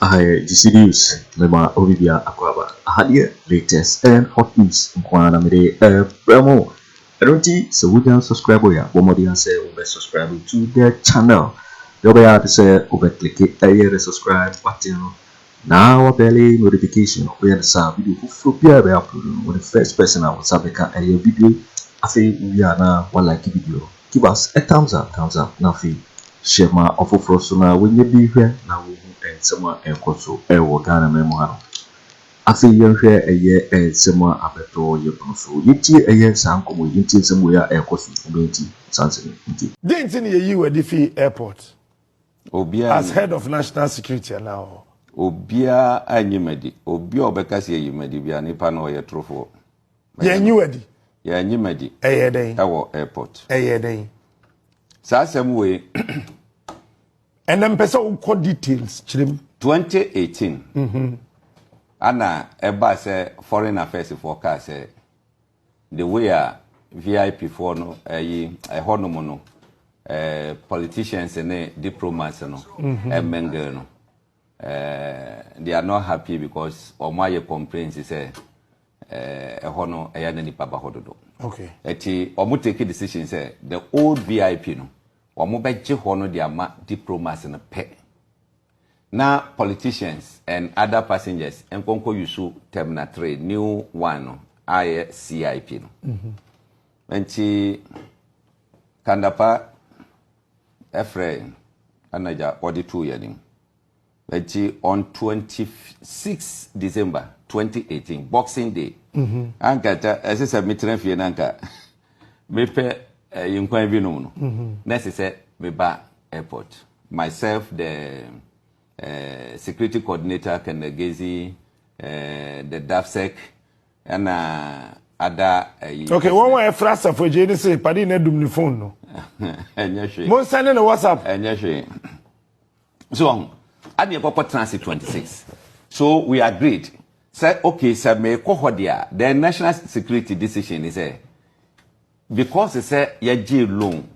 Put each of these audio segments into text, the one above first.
Aha yɛ GC News mema obi bia akɔ aba. Aha deɛ latest and hot news nko ara na mede ɛbrɛ mo. Ɛno nti sɛ wonya subscribe a bɔ mmɔden ara sɛ wobɛ subscribe to the channel deɛ wobɛyɛ ara ne sɛ wobɛ click ɛyɛ the subscribe button no na wa bɛle notification no woyɛ no saa video foforɔ biara a yɛbɛ upload no wo ne first person a wo nsa bɛka ɛyɛ video yi afei wowie a na wa like video no give us a thumbs up thumbs up na afei hyɛ ma ɔfoforɔ so na wɔnyɛ bi hwɛ na wɔhu nsɛm a ɛkɔ so ɛwɔ Ghana man mu ha no. Afei yɛnhwɛ ɛyɛ nsɛm a abɛtɔ yɛn pono so. Yɛntie ɛyɛ saa nkɔmmɔ yi. Yɛntie nsɛm wei a ɛrekɔ so yi. Mo bɛyɛ nti saa nsɛm yi nti. Dɛn nti na yɛyii wo adi fii airport Obiara as nyi. head of national security anaa ɔhɔ? Obiara anyi me adi. Obi a ɔbɛka sɛ yɛayi me adi biara, nipa no ɔyɛ torofoɔ. Mɛyɛ Yɛanyi no. wo adi? Yɛanyi me adi Ɛyɛɛ dɛn? wɔ airport. Ɛyɛɛ dɛn? Saa asɛm wei, Ɛnɛ mpɛ sɛ wokɔ details kyerɛ mu. 2018 ana ɛbaa sɛ foreign affairs foɔ kaa sɛ the way a vip foɔ no ɛyi ɛhɔ nom no politicians ne diplomats no ɛmingle no they are not happy because wɔn ayɛ complaints sɛ Eh, ɛhɔ no ɛyɛ na nipa ba hɔ dodo. Okay. Ɛti wɔn take decision sɛ the old VIP no wɔn bɛgye hɔ no de ama diplomas no pɛ. Na politicians and other passengers nkɔnkɔ yusu terminal three new one no ayɛ CIP no. Mhm. Nti kandapa ɛfrɛ anagya wɔde tu yɛ nim. Ɛnti on twenty six December twenty eighteen boxing day anka ɛta ɛsɛ sɛ metena fie na anka mepɛ ɛyi nkwan bi nom no na ɛsɛ sɛ meba airport myself the uh, security coordinator Kanagezi uh, the DAFSEC ɛna ada ɛyi. okay wɔn a ɛfra asafo agye ne se padi na dum ne phone no. ɛnyɛ hwee. mo nsɛn ne ne whatsapp. ɛnyɛ hwee. So ɔho? Adeɛ kɔkɔ tena ase 26 so we agreed sɛ okay sɛ mekɔ hɔ deɛ a then national security decision ni sɛ because sɛ yɛgyee loan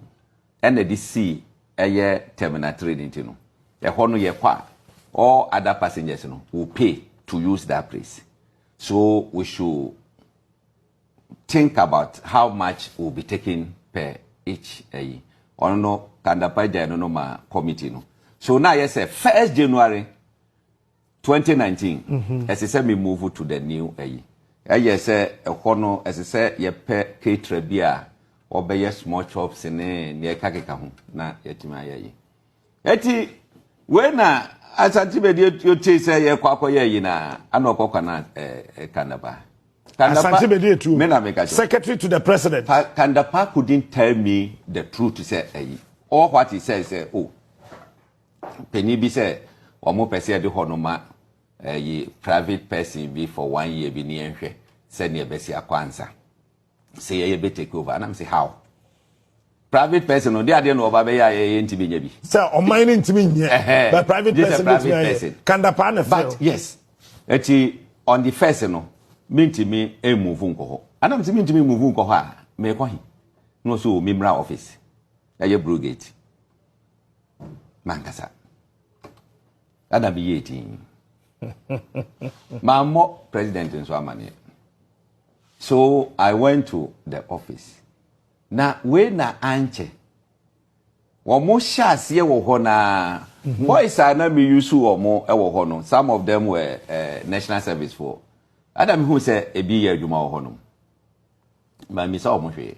ɛna de sii ɛyɛ terminal 3 no nti no ɛhɔ no yɛkɔ a all other passengers no will pay to use that place so we should Think about how much will be taken per each ayi. Ɔno no Kandapa gyae no no ma committee no. So na ayɛ sɛ first January 2019 mm-hmm. ɛsɛ sɛ me move to the new ayi. Ɛyɛ sɛ ɛhɔ no ɛsɛ sɛ yɛpɛ caterer bi a ɔbɛyɛ small chops ne nea ɛkakeka ho na yɛatumi ayɛ yi. Eti wei na Asante Bedi yotee sɛ yɛkɔ akɔyɛ yi na ana ɔkɔ kwana eh, Kandapa. Kandapa, Asante Bedi Etu, me na meka kyerɛ. Secretary to the President. Pa, Kandapa couldn't tell me the truth sɛ ayi. All what he said sɛ o, panyin bi sɛ wɔn pɛ sɛ yɛde hɔ no ma ayi private person bi for one year bi ne yɛnhwɛ sɛdeɛ ɛbɛsi akɔ ansa. Sɛ yɛyɛ bɛ take over anam sɛ how? private person ɔde adeɛ na ɔba bɛyɛ a yɛyɛ ntumi nyɛ bi. sɛ ɔman no ntumi nyɛ but private person bɛtumi ayɛ kanda paa na fɛ yes ɛti on the first no mentumi mmuvu nkɔ hɔ anam sɛ mentumi mmuvu nkɔ hɔ a meekɔ he na ɔsɛ o memmra office ɛyɛ brogate mankasa Dada me yie tii. Mammɔ president nso amaneɛ. So I went to the office. Na wei na ankyɛ. Wɔn hyɛ aseɛ wɔ hɔ naa. Mhm. Boys a na me use wɔn wɔ hɔ no, some of them were uh, national service for. Ada me hu sɛ ebi yɛ adwuma wɔ hɔ nom. mammisa wɔn hwee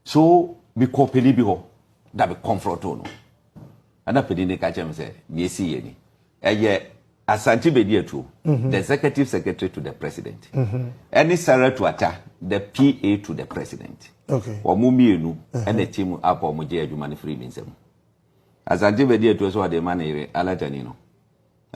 so mekɔ panin bi hɔ na me kɔnfrɔto no ɛna panin no ka kyerɛ me sɛ nea ɛsi yɛ ni ɛyɛ asante bɛdi atuo mhm. the executive secretary to the president mhm. ɛne sarah tuata the pa to the president wɔn mmienu mhm. ɛna ti mu apa wɔn gye adwuma no firi mi nsam asante bɛdi atuo so ɔde ma ne yere alatani no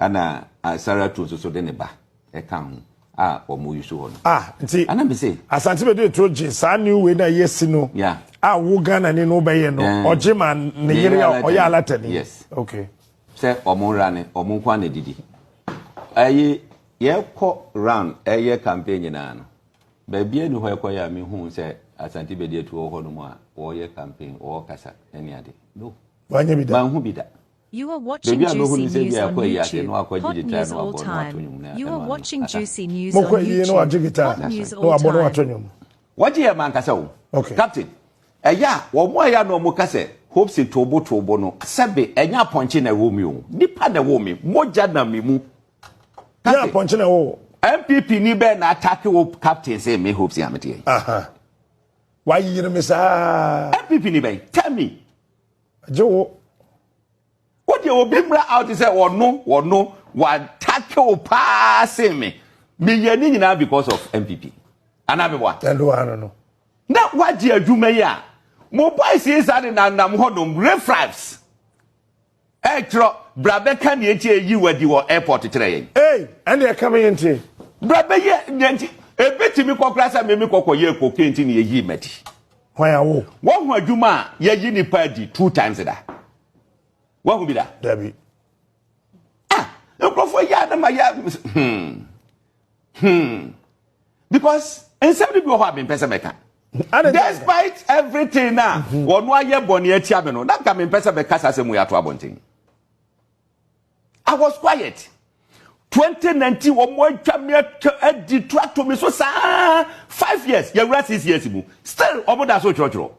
Ɛna Sarah Turo nso so de ne ba ɛka ho a wɔn yi so hɔ no. Ah, nti. Ɛna mi se. Asante bɛ de turo gye saa new way na yɛ si no. Yeah. A wo Ghana ni no bɛ yɛ no. Ɔgye ma ne yere a ɔyɛ alata ni. Yes. Okay. Sɛ wɔn ra ne wɔn nko na didi. Ɛyi yɛ kɔ round ɛyɛ campaign nyinaa no. Baabi ɛni hɔ ɛkɔ yɛ a mi hu sɛ Asante bɛ de turo hɔ no mu a wɔyɛ campaign wɔkasa ɛni ade. No. Wɔnyɛ bi da. Wɔn ho bi da. You are watching juicy news on YouTube, hot news all time. You are watching juicy news on YouTube, hot news all time. Wɔgye yɛ mankasa o. Okay. Captain, ɛyɛ a wɔn a yɛ na wɔn ka sɛ hopes toobo toobo no sɛbe ɛnyɛ apɔnkye na ɛwɔ mi o nipa na ɛwɔ mi mogya na mi mu. Captain, yɛ apɔnkye na ɛwɔ. NPP ni bɛɛ na atake wo captain sɛ me hopes yɛ ameteɛ. Wayere me saa. NPP ni bɛn tell me. Gye wo. Wo deɛ obi mmra out sɛ ɔno ɔno watake wo paa se me. Meyɛ ne nyinaa because of MPP. Anaa meboa? Ɛno wa no no. Na wagye adwuma yi a mo boys yi saa de nanam hɔnom refraps. Ɛkyerɛ bra bɛka nea nti eyi wadi wɔ airport kyerɛ yɛn. Ei, ɛne ɛka me nti. Bra bɛyɛ nea nti ebetumi kɔkora sɛ meme kɔkɔ yɛ cocaine nti na eyi madi. Hwan awo? Wahu adwuma a yɛyi nipa adi two times da? Wahu bi da? Dabi. Ah, nkurɔfoɔ yɛ adama yɛ hmm hmm because nsɛm de bi wɔ hɔ a mempɛ sɛ mɛka. Despite everything na wɔn ayɛ bɔnne atia me no, na nka mempɛ sɛ mɛka saa asɛm mu yɛ ato abɔnten. I was quiet. 2019 wɔn atwa me atwa adi to ato me so saa five years yɛwura six years mu still wɔn da so kyerɛkyerɛ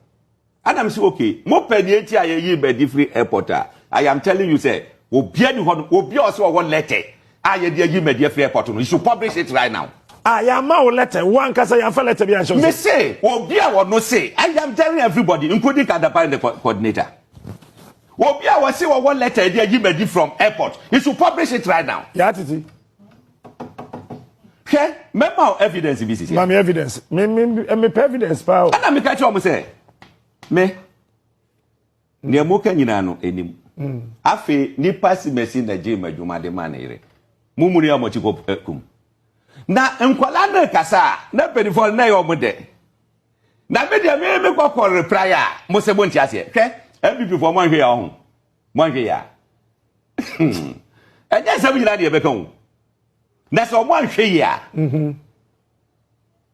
ɛna m sɛ okay mo pɛ nea eti a yɛyi bɛdi firi airport a I am telling you sɛ obia ni hɔ no obia ɔsɛ ɔwɔ letter a yɛde ayi mɛdi afiri airport no you should publish it right now. Ah, yɛama wo letter wo ankasa yɛamfa letter bi anhyɛ wo me se obi a wɔno se I am telling everybody including Kadapan the coordinator. Obi a wɔse wɔwɔ letter de ayi madi from airport, he should publish it right now. Yaa titi. Hwɛ, mɛma wo evidence bi sisi. Ma me evidence. Me me eh, me pɛ evidence paa o. Ɛna meka kyerɛ wɔn sɛ, me nea moka nyinaa no anim. Hmm. Afei nipa si mɛsi na gye m'adwuma de ma ne yere. Mo mu ni a wɔte kɔ eh, kum. Na nkwadaa no rekasa a, na mpanimfoɔ no na ɛyɛ wɔn dɛ. Na me deɛ me me kɔkɔ reply a mo sɛ mo nti aseɛ hwɛ npp foɔ mo anhwɛ yɛ ɔho mo anhwɛ yɛ a ɛnyɛ nsɛm nyinaa deɛ ɛbɛka o na sɛ ɔmo anhwɛ yɛ a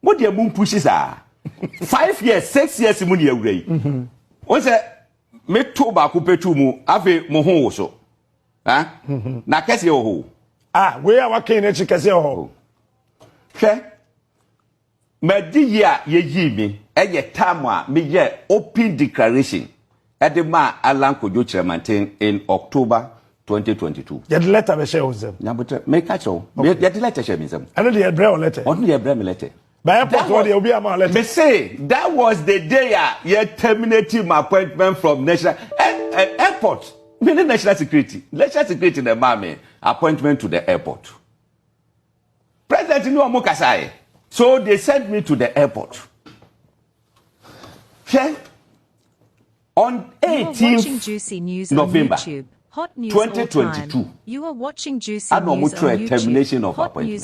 mo deɛ mo mpusi saa five years six years mu ne awura yi wɔn sɛ me to baako pɛ tu mu afei mo ho wo so ha na kɛseɛ wɔ hɔ o. ah wei a wakɛn n'akyi kɛseɛ wɔ hɔ. hwɛ M'adiyi a yeyii me yɛ tam a meyɛɛ open declaration de maa Allan Kwadwo Kyerɛmanten in October twenty twenty two. Yɛde lɛtɛ bɛhyɛɛ wo nsam? Nyaboterɛ, meka kyerɛ wo, Okay. yɛ- yɛde lɛtɛ hyɛɛ me nsam. Ɛno deɛ yɛbrɛ wo lɛtɛ. Ɔno deɛ yɛbrɛ me lɛtɛ. Ba airport That hɔ was- deɛ obi ama wo lɛtɛ. Me se, that was the day a yɛ terminate my appointment from national eh, eh, airport. Me ne national security, national security na ɛmaa me appointment to the airport. President ne wɔn kasaeɛ. So they sent me to the airport. Hwɛ on 18 November 2022 ana wɔn twerɛ termination of appointment.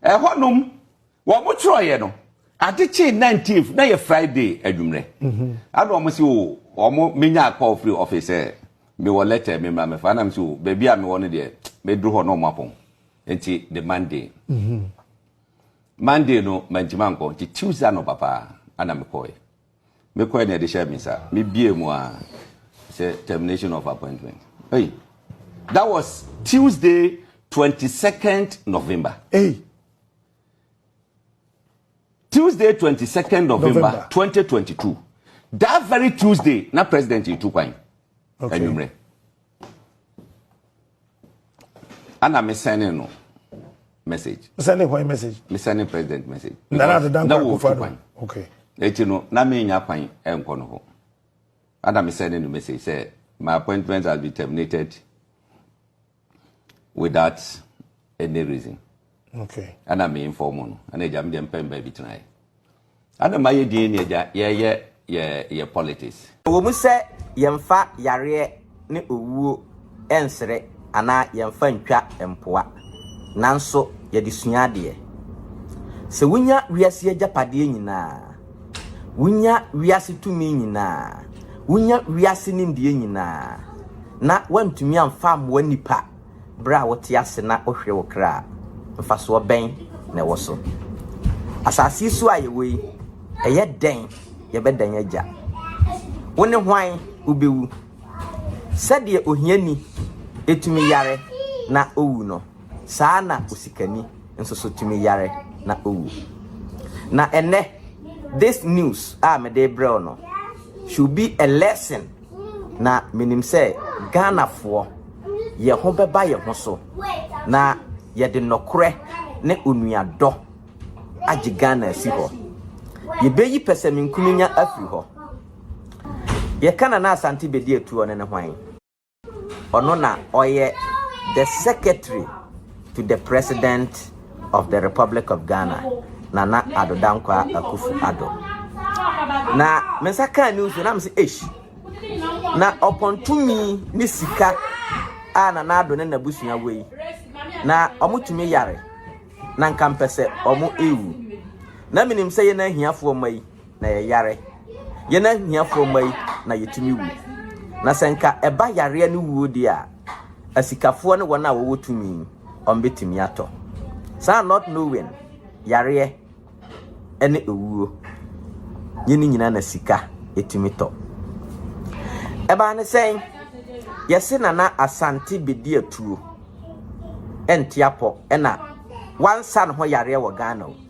Ɛhɔnom Wɔtwerɛeɛ no, ade kyee nineteenth, na ɛyɛ Friday anwummerɛ. Ɛna wɔn se o, wɔn menya call firi office sɛ mewɔ letter bi mmra mmɛfa. Ɛna mese o, baabi a mewɔ no deɛ, mɛduru hɔ na wɔn apɔn. Nti the Monday, Monday no mantumi ankɔ, nti Tuesday anɔpa paa ɛna mekɔeɛ. Mekɔeɛ na wɔde hyɛɛ me nsa, mebuee mu ara sɛ termination of appointment. Ei, that was Tuesday twenty second November. Ei. Tuesday twenty second November twenty twenty two that very Tuesday na president yi tu kwan anwummerɛ ana me sɛne no message sɛne kwan message me sɛne president message na na adedan kwan kofa no okay eti no na me nya kwan ɛnkɔ no hɔ ana me sɛne no message sɛ my appointment has been terminated without any reason okay ana me inform no ana agya me deɛ mpɛ mba bi tenaeɛ ana ma yɛ din ne agya yɛyɛ yɛ yɛ politics wɔ mu sɛ yɛmfa yareɛ ne owuo ɛnsere anaa yɛmfa ntwa mpoa nanso yɛde sua adeɛ sɛ wonya wiase agyapadeɛ nyinaa Wunya wiase tumi nyinaa, wunya wiase nimdeɛ nyinaa, na woantumi amfa ammoa nnipa bere a wote ase na wohwere wo kra a, mfasoɔ bɛn na ɛwɔ so? Asase yi so a yɛwɔ yi, ɛyɛ dɛn yɛbɛdan agya? Wo ne hwan wobɛwu? Sɛdeɛ ohiani tumi yare na owu no, Saa ara na osikani nso so tumi yare na owu. Na ɛnnɛ, this news a mede rebrɛ wo no should be a lesson na menim sɛ Ghanafoɔ yɛ ho bɛba yɛ ho so na yɛde nnɔkorɛ ne onuadɔ agye Ghana asi hɔ. Yɛbɛyi pɛsɛmenkominya afiri hɔ. Deɛ Canana Asante bɛdi atuo no ne hwan? Ɔno na ɔyɛ the secretary to the president of the Republic of Ghana, Nana Addo Dankwa Akufu Addo. Na me nsa kaa news na me sɛ eish. Na ɔpɔn tumi ne sika a Nana Addo ne n'abusua wɔ yi. Na wɔn tumi yare. Na nka mpɛ sɛ wɔn ewu. Na menim sɛ yɛn ahiafoɔ ma yi. na yɛyare. Yɛn ahiafoɔ mma yi na yɛtumi wu. Na sɛ nka ɛba yareɛ ne wuo deɛ a, asikafoɔ ne wɔn a wɔwɔ tumi wɔn bɛtumi atɔ. Saa not knowing yareɛ ne ewuo yɛn ne nyinaa na sika ɛtumi tɔ. Ɛbaa ne sɛn? Yɛse nana asante bɛdi atuo ɛnte apɔ ɛna wansa ne ho yareɛ wɔ Ghana o.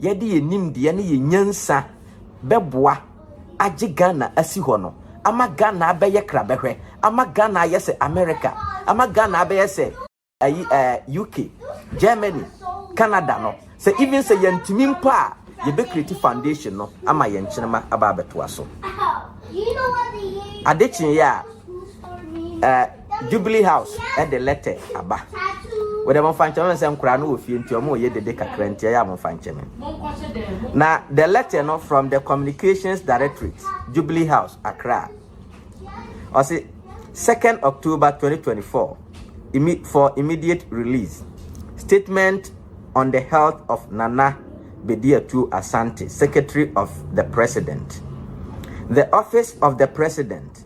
yɛde yɛn nimdeɛ ne yɛn nyansa bɛboa agye Ghana asi hɔ no, ama Ghana abɛyɛ krabɛhwɛ, ama Ghana ayɛ sɛ America, ama Ghana abɛyɛ sɛ ayi ɛɛ UK, Germany, Canada no, sɛ even sɛ yɛntumi mpo a, yɛbɛkreti foundation no ama yɛn nkyenema aba abɛtoa so. Ade kyeeɛ a, ɛɛ. Jubilee House de lɛtɛ aba. Wɔde wɔn fa nkyɛn wɔn sɛ nkwadaa no wɔ fie nti wɔn reyɛ dede kakra nti ɛyɛ a wɔn fa nkyɛn wɔn. Na the letter no from the communications directorate Jubilee House Accra. Ɔsi 2nd October 2024 for immediate release statement on the health of Nana Bediatu Asante, Secretary of the President. The office of the President.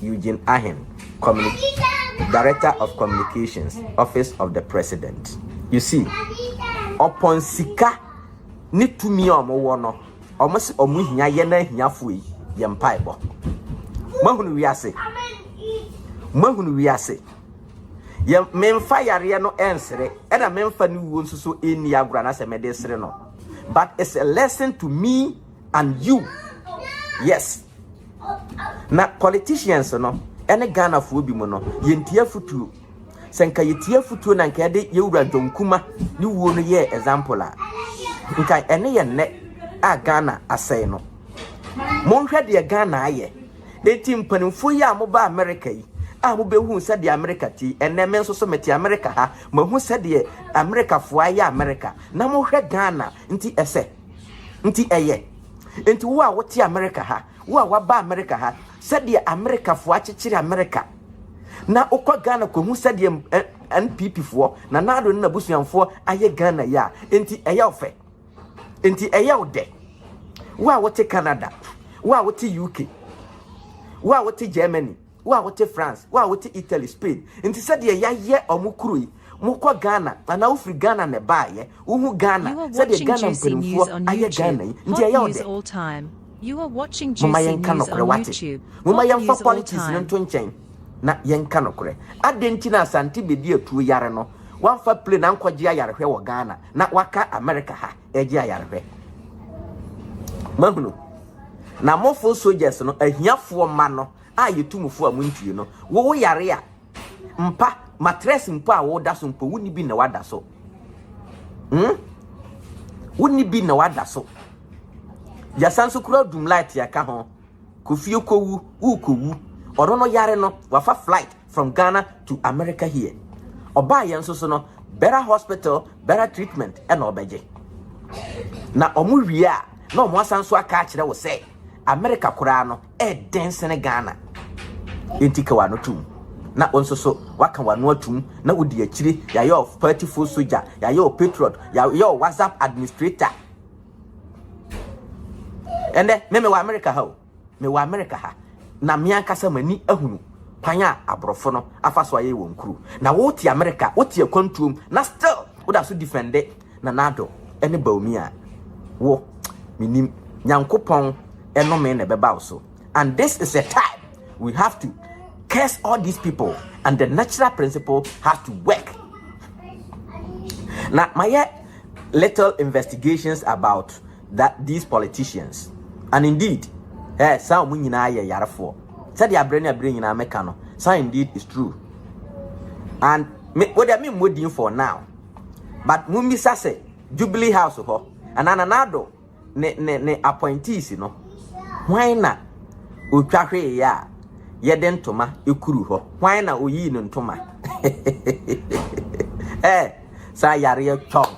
Eugene Ahim, Communi Director of Communications, Office of the President. You see, upon sika ne tumi a wɔn wɔ no, wɔn se wɔn hia yɛn ahiafo yi yɛ mpaebɔ. Mahunu wiase, mahunu wiase. Yɛ memfa yareɛ no ɛnsere, ɛna memfa ne wuo nso so ɛnni agorɔ anasɛ mɛde sere no. But it's a lesson to me and you yes na politicians no ɛne ghanafoɔ bi mu no yɛntie afotuo sɛ nka yɛtie afotuo na nka yɛde yɛwura john kuma ne wuo no yɛɛ example a nka ɛne yɛ nnɛ a ghana asɛe no monhwɛ deɛ ghana ayɛ enti mpanimfoɔ yi a moba amerika yi a mobɛhu sɛdeɛ amerika ti ɛnɛ me nso so mete amerika ha mahu sɛdeɛ amerikafoɔ ayɛ amerika na mohwɛ ghana Nti ɛsɛ. Nti ɛyɛ. Nti wo a wote Amerika ha, wo a woaba Amerika ha, sɛdeɛ Amerikafoɔ akyekyere Amerika, na wokɔ Ghana kɔhu sɛdeɛ NPPfoɔ, Nana Addo ne n'abusuanfoɔ ayɛ Ghana yi a, nti ɛyɛ wo fɛ. Nti ɛyɛ wo dɛ. Wo a wote Canada, wo a wote UK, wo a wote Germany, Wo a wote France, wo a wote Italy, Spain, nti sɛdeɛ yayɛ ɔmo kuro yi, mo kɔ Ghana anaa wo firi Ghana na ɛbaayɛ, wo hu Ghana, sɛdeɛ Ghana mpanimfoɔ ayɛ Ghana yi, nti ɛyɛ wo dɛ? Momma yɛn nka nɔkorɛ wate, momma yɛn fa politics no nto nkyɛn na yɛn nka nɔkorɛ, adɛn nti na Asante bɛdi atuo yare no, wamfa plane ankɔ gye ayarehwɛ wɔ Ghana na waka America ha ɛregye ayarehwɛ? Mo ahunu? Na mofo soldiers no, ahiafoɔ mma no, a yɛtu mo fo a montie no. Wo woyare a, mpa, matress mpo a woda so mpo, wonni bi na wada so. Hmm? Wonni bi na wada so. Yɛsan so kura dum light yɛka ho. Kofie kɔwu, wokɔwu. Ɔno no yare no, wafa flight from Ghana to America here. Ɔbaa yɛn nso so no, better hospital, better treatment ɛna ɔbɛgye. Na ɔmo wie a, na ɔmo asan so aka akyerɛ wo sɛ, America koraa no, ɛɛden sene Ghana. Enti ka w'ano tom. Na wo nso so waka w'ano atom na wodi akyire. Yɛayɛ wo party foot soldier, yɛayɛ wo patriot, yɛayɛ wo WhatsApp administrator. Ɛnɛ me mewɔ America ha o, mewɔ America ha na me ankasa m'ani ahunu kwan a aborɔfo no afa so ayɛ wɔn kuro. Na wote America, wote akwantuom na still woda so defende Nanado ne Baumia wo menim Nyankopɔn ɛnome na ɛbɛba wo so and this is a time we have to curse all these people and the natural principle has to work na mayɛ little investigations about that these politicians and indeed eh, saa wɔn nyinaa yɛ yarefoɔ sɛdeɛ aberɛ ne aberɛ nyinaa meka no saa indeed is true and me wɔde me mmɔ din for now but mo mmisa sɛ jubilee house hɔ anaa nana ado ne ne ne appointees no hwan na otwa hwee yɛ a yɛde ntoma ekuru hɔ hwan na oyii ne ntoma eh saa yareɛ twɔn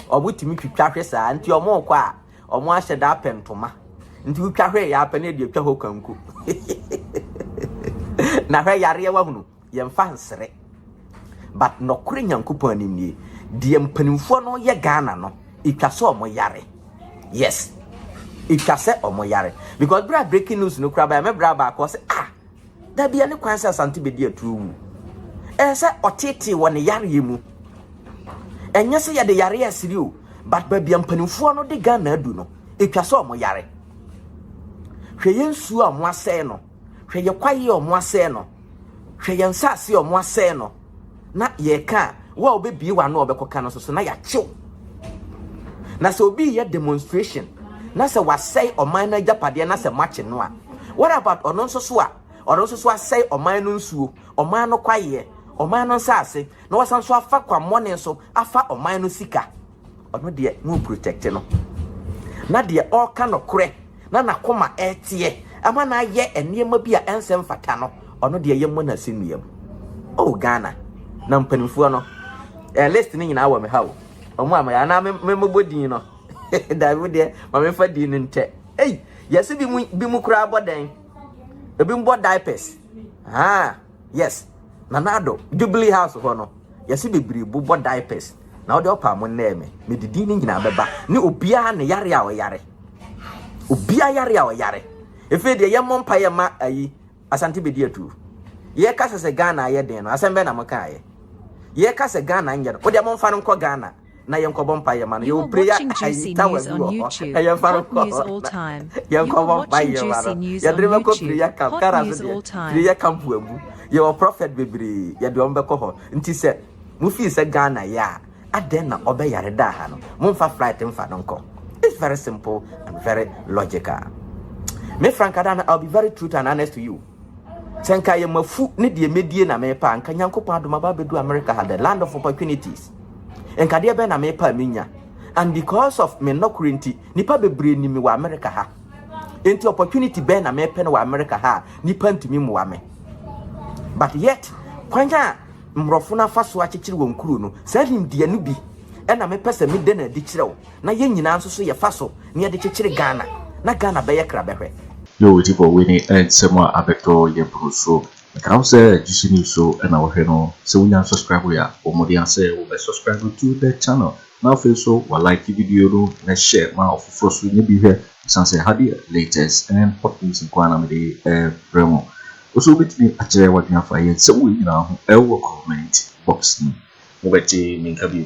ɔmo tumi twitwa hwe saa nti ɔmo kɔ a ɔmo ahyɛ da apɛ ntoma nti wotwa hwee yɛ apɛ ne deɛ twa hɔ kanko na hwɛ yareɛ wahunu Yɛmfa nsere. But nɔkore Nyankopɔn anim nie, deɛ mpanimfoɔ no yɛ Ghana no, ɛtwa sɛ ɔmo yare. Yes, ɛtwa sɛ ɔmo yare. Because berɛ a breaking news no kura bɛyɛ, me bra baako ɔsɛ, ah, dabi ɛne kwan sɛ Asante bɛdi atuo wu. Ɛyɛ sɛ ɔtetee wɔ ne yareɛ mu. Ɛnyɛ sɛ yɛde yareɛ asiri o, but baabi a mpanimfoɔ no de Ghana adu no, ɛtwa sɛ ɔmo yare. Hwɛ yɛn nsuo a ɔmo asɛe no. hwɛ yɛ kwaeɛ a wɔn asɛe no, hwɛ yɛn nsase a wɔn asɛe no, na yɛka a, wo a wobɛbie w'ano a wɔbɛkɔka no nso so na yɛakyew. Na sɛ obi yɛ demonstration na sɛ wasɛe ɔman no agyapadeɛ na sɛ moakye no a, what about ɔno nso so a ɔno nso so asɛe ɔman no nsuo, ɔman no kwaeɛ, ɔman no nsase, na wasan so afa kwammɔne so afa ɔman no sika? Ɔno deɛ mo protect no na deɛ ɔreka nokorɛ na n'akoma ɛreteɛ ama no ayɛ nneɛma bi a ɛnsɛ mfata no ɔno deɛ yɛmmɔ no asɛnnua mu. Oh Ghana na mpanimfoɔ no eh, list no nyinaa wɔ me ha o ɔmo a mɛyɛ anaa memmobɔ din no daabi wo deɛ ma memfa din no ntɛ ei yɛse bi mu bi mu koraa bɔ dɛn ebi mbɔ diapers haa Yes Nana Addo, Jubilee House hɔ no yɛse bebree bu bɔ diapers na wode ɔpa mo nnɛɛ me mede din no nyinaa bɛba ne obiara ne yare a ɔyare obiara yare a ɔyare efei deɛ yɛmmɔ mpa yɛ ma ayi asante bɛdi atuo yɛka sɛ sɛ Ghana ayɛ den no asɛm bɛɛ na mo kaayɛ yɛka sɛ Ghana nyɛ no wode mo mfa no nkɔ Ghana na yɛn kɔbɔ mpa yɛ ma no yɛ wɔ pray ayi tawa bi wɔ hɔ ka yɛn fa no kɔ hɔ na yɛn kɔbɔ mpa yɛ ma no yɛ de bɛ kɔ pray camp kara so deɛ pray camp wɔ abu yɛ wɔ prophet bebree yɛ de wɔn bɛ kɔ hɔ nti sɛ mo fi sɛ Ghana yɛ a adɛn na ɔbɛ yare da ha no mo nfa flight nfa no nkɔ it's very simple and very logical me Frank Adana I'll be very true and honest to you. Sɛ nka yɛ mafu ne deɛ medie na mepa a, nka Nyankopɔn adom aba abɛdu America ha, the land of opportunities. Nka deɛ bɛn na mepa a menya. And because of me nnɔkorɛ nti, nipa bebree nim me wɔ America ha. Nti opportunity bɛn na mepɛ no wɔ America ha a, nipa ntumi mmoa me. But yet, kwan a mmorɔfo no afa so akyekyere wɔn kuro no, saa nimdeɛ no bi ɛna mepɛ sɛ meda no adi kyerɛ wo. na yɛn nyinaa nso so yɛfa so na yɛde kyekyere Ghana na Ghana bɛyɛ krabɛhwɛ. Yo odi bɔ wini ɛ nsɛm a abɛtɔ yɛ bro so meka wo sɛ GC news so na wohwɛ no sɛ wonya nsɔskraibo ya bɔ mmɔden a sɛ wo bɛ sɔskraibo to the channel na afei nso wa like video no na share ma ɔfoforɔ so nya bi hwɛ ɛsan sɛ ha deɛ latest and hot news nko ara na mede brɛ mo wo nso wobɛtumi akyerɛ wadwene afa yɛ nsɛm wei nyinaa ho ɛwɔ comment box no mu wobɛte me nka bio.